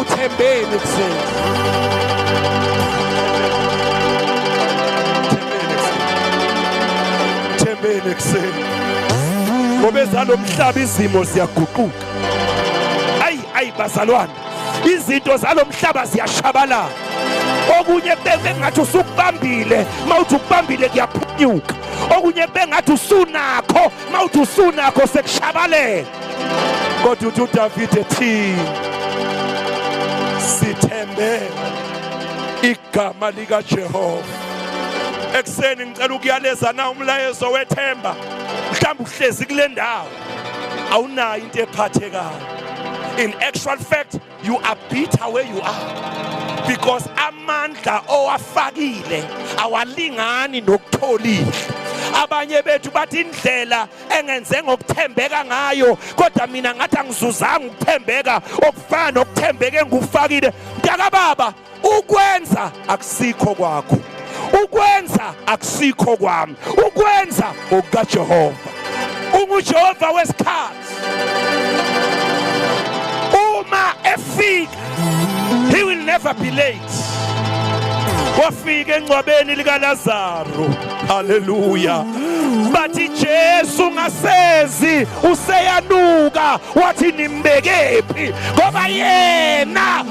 uthembeni kuseni thembeni kuseni ngoba ezalo mhlaba izimo ziyaguquka ayi ayi bazalwane izinto zalo mhlaba ziyashabalala okunye bengathi usukubambile mawuthi ukubambile kuyaphunyuka okunye bengathi usunakho mawuthi usunakho sekushabalela kodwa uthi uDavid ethi sithembe igama lika Jehova ekuseni ngicela ukuyaleza na umlayezo wethemba mhlawumbe uhlezi kule ndawo awunayo into ephathekayo in actual fact You are bitter where you are because amandla owafakile awalingani nokutholile. Abanye bethu bathi indlela engenze ngokuthembeka ngayo kodwa mina ngathi angizuzanga ukuthembeka okufana nokuthembeke ngikufakile. Mntaka baba ukwenza akusikho kwakho ukwenza akusikho kwami ukwenza okukajehova ungujehova wesikhathi uma efika he will never be late wafika engcwabeni likalazaro haleluya bathi Jesu ngasezi useyanuka wathi nimbekephi ngoba yena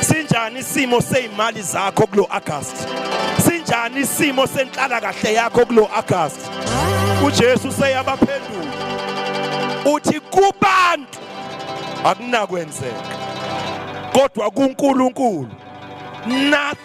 Sinjani isimo sezimali zakho kulo August? Sinjani isimo senhlala kahle yakho kulo August? uJesu seyabaphendula uthi kubantu akunakwenzeka kodwa kuNkulunkulu nothing